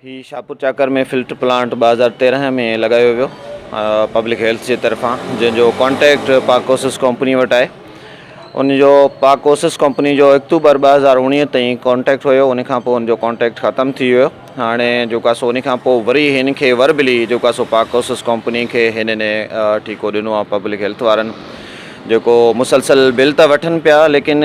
هي Shahpur Chakar ۾ filter plant ٻه هزار تيرنهن ۾ لڳايو ويو پبلڪ هيلٿ جي طرفان جنهن جو ڪانٽيڪٽ پاڪوسس ڪمپني وٽ آهي ان جو پاڪوسس ڪمپني جو اڪتوبر ٻه هزار اوڻيهه تائين ڪانٽيڪٽ هيو ان کان پوء ان جو ڪانٽيڪٽ ختم ٿي ويو هاڻي جيڪو سو ان کان پوء وري هن کي وربلي جيڪو سو پاڪوسس ڪمپني کي هنن ٺيڪو ڏنو آهي پبلڪ هيلٿ وارن جيڪو مسلسل بل ته وٺن پيا ليڪن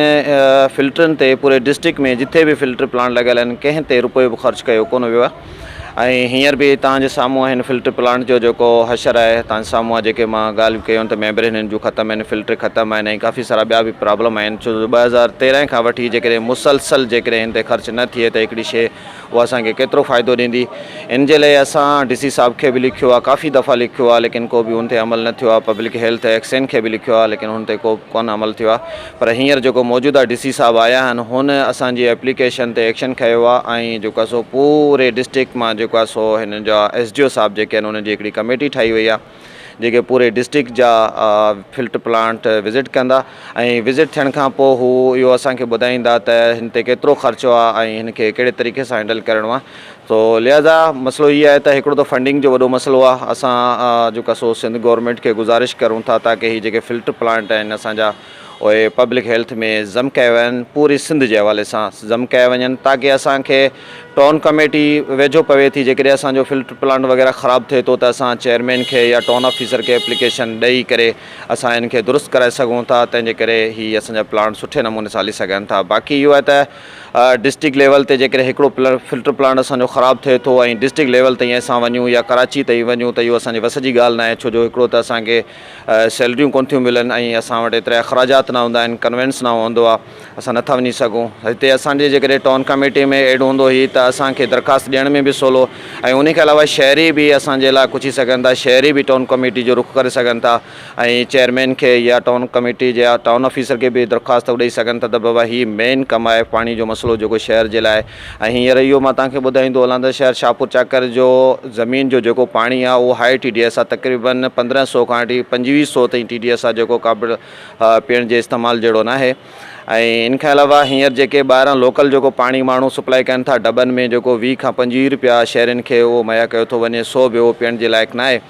فلٽرن تي پوري ڊسٽرڪٽ ۾ جتي به فلٽر پلانٽ لڳل آهن ڪنهن تي رپيو به خرچ ڪيو ڪونه ويو آهي ۽ هينئر به توهان جي سامهون آهن فلٽر پلانٽ جو جيڪو حشر آهي توهان جي سامهون آهي جيڪي مان ڳالهيون ڪيون ته ميمبرين هنن جون ختم آهن فلٽر ختم آهن ۽ ڪافي سارا ٻيا به پرابلم آهن ڇو جو ٻه هزار تيرنهن کان وٺي جيڪڏهن مسلسل جيڪڏهن هن تي خرچ نه ٿئي ته هڪڙي شيء اها اسان کي ڪيترو فائدو ڏيندي؟ ان جي لئه اسان ڊي سي صاحب کي به لکيو آهي، ڪافي دفعا لکيو آهي ليڪن ڪو به ان تي عمل نه ٿيو آهي، پبلڪ هيلٿ ايڪس اين کي به لکيو آهي ليڪن ان تي ڪو به ڪونه عمل ٿيو آهي پر هينئر جيڪو موجوده ڊي سي صاحب آيا آهن هن اسان جي ايپليڪيشن تي ايڪشن کنيو آهي ۽ جيڪو آهي سو پوري ڊسٽرڪٽ مان جيڪو آهي سو هن جا ايس ڊي او صاحب جيڪي آهن انهن جي هڪڙي ڪميٽي ٺاهي وئي آهي. جيڪي پوري ڊسٽرڪٽ جا فلٽ پلانٽ وزٽ ڪندا ۽ وزٽ ٿيڻ کان پوء هو اهو اسان کي ٻڌائيندا ته هن تي ڪيترو خرچو آهي ۽ هن کي ڪهڙي طريقي سان هينڊل ڪرڻو آهي سو لهٰذا مسئلو هي آهي ته هڪڙو ته فنڊنگ جو وڏو مسئلو آهي اسان جيڪا سو سنڌ گورنمنٽ کي گزارش ڪرون ٿا تاڪي هي جيڪي فلٽ پلانٽ آهن اسان جا اهي پبلڪ هيلٿ ۾ ضم ڪيا ويا آهن پوري سنڌ جي حوالي سان ضم ڪيا وڃن تاڪه اسان کي ٽائون ڪميٽي ويجهو پوي ٿي جيڪڏهن اسان جو فلٽر پلانٽ وغيره خراب ٿئي ٿو ته اسان چيئرمين کي يا ٽائون آفيسر کي اپليڪيشن ڏئي ڪري اسان ان کي درست ڪرائي سگهون ٿا تنهن جي ڪري هي اسان جا پلانٽ سٺي نموني سان هلي سگهن ٿا باقي اهو آهي ته ڊسٽرڪٽ ليول تي جيڪڏهن هڪڙو فلٽر پلانٽ اسان جو خراب ٿئي ٿو ۽ ڊسٽرڪٽ ليول تائين اسان وڃون يا ڪراچي تائين وڃون ته اهو اسان جي وس جي ڳالهه ناهي ڇو جو هڪڙو ته اسان کي سيلريون ڪونه ٿيون ملن ۽ اسان وٽ ايترا اخراجات نه هوندا آهن ڪنوينس نه هوندو آهي اسان نٿا وڃي سگهون هتي اسان جي جيڪڏهن ٽائون ڪميٽي ۾ ايڊ هوندو هي ته اسان کي درخواست ڏيڻ ۾ به سولو ۽ ان کان علاوه شهري به اسان جي لاء پڇي سگهن ٿا شهري به ٽائون ڪميٽي جو رخ ڪري سگهن ٿا ۽ چيئرمين کي يا ٽائون ڪميٽي جي ٽائون آفيسر کي به درخواست ڏئي سگهن ٿا ته بابا هي مين ڪم آهي پاڻي جو مسئلو جيڪو شهر جي لاء ۽ هينئر اهو مان توهان کي ٻڌائيندو هلان ته شهر شاهپور چاڪر جو زمين جو جيڪو پاڻي آهي اهو هائي ٽي ڊي ايس آهي تقريبن پندرهن سئو کان وٺي پنجويهه سئو تائين ٽي ڊي ايس آهي جيڪو قابل پيئڻ جي استعمال جهڙو ناهي ۽ ان کان علاوه هينئر جيڪي ٻاهران لوڪل جيڪو پاڻي ماڻهو سپلائي ڪن ٿا ڊٻن ۾ جيڪو ويهه کان پنجويهه روپيا شهرين کي اهو مهيا ڪيو ٿو وڃي سو به اهو پيئڻ جي لائق ناهي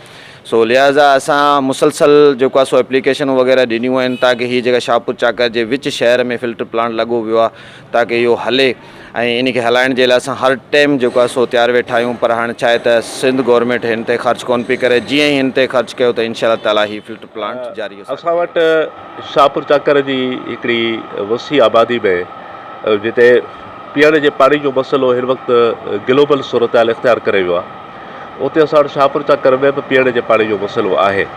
سو لهٰذا اسان مسلسل جيڪو آهي سو اپليڪيشنون وغيره ڏنيون آهن تاڪه هي جيڪا شاهپور چاڪر جي وچ شهر ۾ فلٽر پلانٽ لڳو ويو آهي تاڪه اهو هلي ۽ ان کي هلائڻ جي لاء اسان هر ٽيم جيڪو آهي سو تيار ويٺا آهيون پر هاڻ ڇا آهي ته سنڌ گورنمينٽ هن تي خرچ ڪونه پئي ڪري جيئن ئي هن تي خرچ ڪيو ته انشاء الله تعالٰي هي فلٽر پلانٽ جاري هو اسان وٽ شاهپور چاڪر جي هڪڙي وسيع آبادي ۾ جتي پيئڻ جي پاڻي جو مسئلو هن وقت گلوبل صورتحال اختيار ڪري ويو آهي اتي اسان وٽ شاهپور چاڪر ۾ به پيئڻ جي پاڻي جو مسئلو آهي.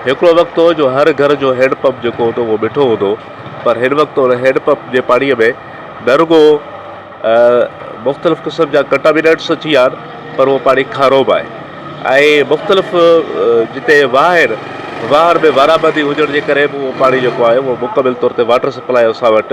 هڪڙو وقت هو جو هر گهر جو هينڊ پمپ جيڪو هوندو اهو مٺو هوندو هو پر هن وقت ان هينڊ پمپ جي پاڻي ۾ نه رڳو مختلف قسم جا ڪنٽامينيٽس اچي ويا آهن پر اهو پاڻي کارو به آهي ۽ مختلف جتي واهه آهن واهن ۾ وارا بدي هجڻ جي ڪري به اهو پاڻي جيڪو آهي اهو مڪمل طور تي واٽر سپلاء اسان وٽ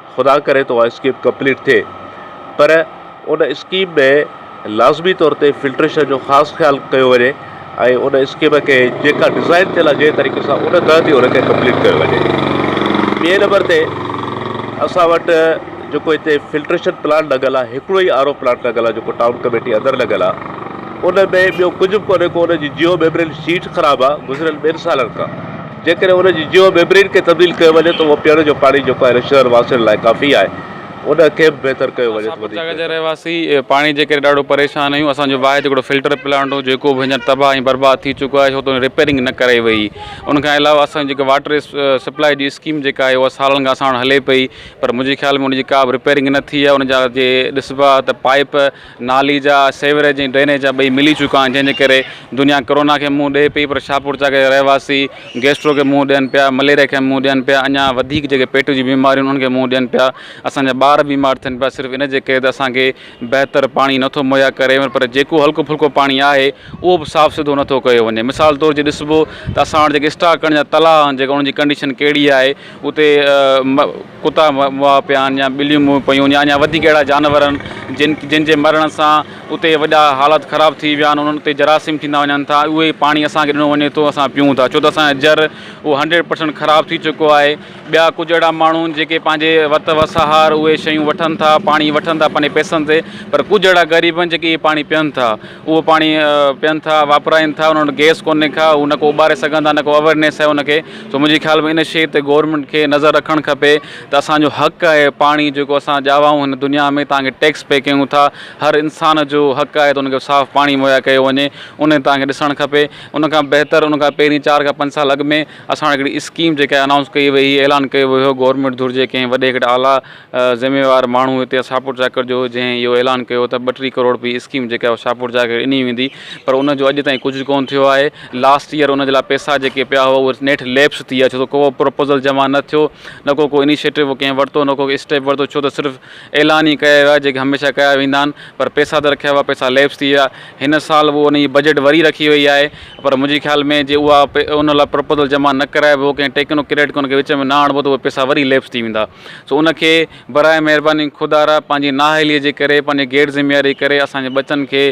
خدا ڪري ته اها اسڪيم ڪمپليٽ ٿئي پر ان اسڪيم ۾ لازمي طور تي فلٽريشن جو خاص خيال ڪيو وڃي ۽ ان اسڪيم کي جيڪا ڊزائن ٿيل آهي جنهن طريقي سان ان تحت ئي ان کي ڪمپليٽ ڪيو وڃي ٻئي نمبر تي اسان وٽ جيڪو هتي فلٽريشن پلانٽ لڳل آهي هڪڙو ئي آر او پلانٽ لڳل آهي جيڪو ٽائون ڪميٽي اندر لڳل آهي ان ۾ ٻيو ڪجهه به ڪونهي ڪو ان جي جيو ميمبرين شيٽ خراب آهي گذريل ٻن سالن کان جيڪڏهن ان جي جيو ميمبرين کي تبديل ڪيو وڃي ته اهو پيئڻ جو پاڻي جيڪو هن شهر واسين لاء ڪافي آهي ان کي به بهتر ڪيو وڃي ته وڌيڪ بهتر. رهواسي پاڻي جي ڪري ڏاڍو پريشان آهيون اسان جو واحد هڪڙو فلٽر پلانٽ هو جيڪو به هينئر تباهه ۽ برباد ٿي چڪو آهي ڇو ته ان جي ريپيرنگ نه ڪرائي وئي ان کان علاوه اسان جي جيڪا واٽر سپلائي جي اسڪيم جيڪا آهي اها سالن کان اسان وٽ هلي پئي پر منهنجي خيال ۾ ان جي ڪا به ريپيرنگ نه ٿي آهي ان جا جي ڏسبا ته پائپ نالي جا سيوريج ۽ ڊرينيج جا ٻئي ملي چڪا آهن جنهن جي ڪري دنيا ڪورونا کي منهن ڏئي پئي پر شاهپورچاڪ جا رهواسي گيسٽرو کي منهن ڏين پيا مليريا کي منهن ڏين پيا اڃا وڌيڪ جيڪي پيٽ جون بيماريون انهن کي منهن ڏين پيا اسان جا ٻار بيمار ٿين پيا صرف ان جي ڪري ته اسان کي بهتر پاڻي نٿو مهيا ڪري وڃي پر جيڪو هلڪو ڦلڪو پاڻي آهي اهو به صاف سڌو نٿو ڪيو وڃي مثال طور جي ڏسبو ته اسان وٽ جيڪي اسٽاڪ ڪرڻ جا تلاء آهن جيڪو ان جي ڪنڊيشن ڪهڙي آهي اتي ڪتا مئا پيان يا ٻليون مئون پيون يا اڃا وڌيڪ اهڙا جانور آهن جن جن جي مرڻ سان اتي وڏا حالت خراب ٿي ويا آهن انهن اتي جراثيم ٿيندا وڃن ٿا اهو ئي پاڻي اسان کي ڏنو وڃي ٿو اسان پيون ٿا ڇو ته اسان جو جر اهو هنڊريڊ پرسنٽ خراب ٿي چڪو آهي ٻيا ڪجهه اهڙا ماڻهو آهن جيڪي پنهنجي وت وسهار اهي شيون وٺن ٿا پاڻي وٺن ٿا پنهنجي پئسن تي پر ڪجهه اهڙا غريب آهن جيڪي اهي پاڻي پيئن ٿا اهو پاڻي پين ٿا واپرائن ٿا انهن وٽ گيس ڪونهي ڪا هو نه ڪو اٻاري سگهن ٿا نه ڪو اويرنيس آهي ان کي سو منهنجي خيال ۾ ان شيء تي گورنمينٽ کي نظر رکڻ کپي ته اسانجو حق آهي پاڻي جيڪو اسان ڄاوائون هن دنيا ۾ تانکي ٽيڪس پي ڪيون ٿا هر انسان جو حق آهي ته ان کي صاف پاڻي مهيا ڪيو وڃي ان تان کي ڏسڻ کپي ان کان بهتر ان کان پهرين چار کان پنج سال اڳ ۾ اسان وٽ هڪڙي اسڪيم جيڪا انائونس ڪئي وئي اعلان ڪيو ويو هو گورنمينٽ ڌر جي ڪنهن وڏي هڪڙي اعليٰ ذميوار ماڻهو هتي آ شاهپور چاڪر جو جنهن اهو اعلان ڪيو ته ٻه ٽي ڪروڙ روپيه اسڪيم جيڪا اهو شاهپور چاڪر کي ڏني ويندي پر ان جو اڄ تائين ڪجهه ڪون ٿيو آهي لاسٽ ايئر ان جي لاء پيسا جيڪي پيا هئا اهي نيٺ ليپس ٿي ويا ڇو ته ڪو پروپوزل جمع نه ٿيو نه ڪو ڪو انيشيٽو ڪنهن ورتو نه ڪو اسٽيپ ورتو ڇو ته صرف اعلان ئي ڪيا ويا جيڪي هميشه ڪيا ويندا آهن پر پيسا ته رکيا هئا پيسا ليپس ٿي ويا هن سال اهو ان جي بجيٽ وري رکي وئي آهي پر منهنجي خيال ۾ جي اها ان لاء پروپوزل جمع نه ڪرائبو ڪنهن ٽيڪنو ڪريڊ ڪنهن کي وچ ۾ نه آڻبو ته اهي پيسا وري ليپس ٿي ويندا سو ان کي براء مهرباني خدارا پنهنجي نااهليء جي ڪري پنهنجي غير ذميواري ڪري اسان جي ٻچن کي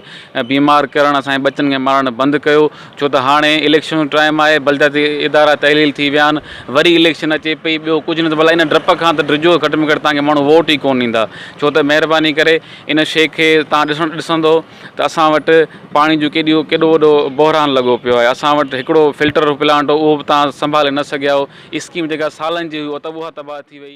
بيمار ڪرڻ اسان جي ٻچن کي مارڻ بند ڪيو ڇو ته هاڻي اليڪشن جو ٽائيم آهي بلدياتي ادارا تحليل ٿي ويا آهن وري اليڪشن اچي پئي ٻيو ڪجهه نه ته ڀلا ان ڊپ کان ته ڊڄو گهٽ ۾ گهٽ توهان کي ماڻهو ووٽ ئي ڪونه ڏيندا ڇو ته مهرباني ڪري ان شيء کي توهان ڏسندو ته اسان وٽ پاڻي جو ڪيڏيو ڪيڏو وڏو بحران لڳو پيو آهي اسان وٽ هڪڙو فلٽر پلانٽ هو اهو به تهان سنڀالي نه سگهيا آهو اسڪيم جيڪا سالن جي هئي اهو ته اها تباهه ٿي وئي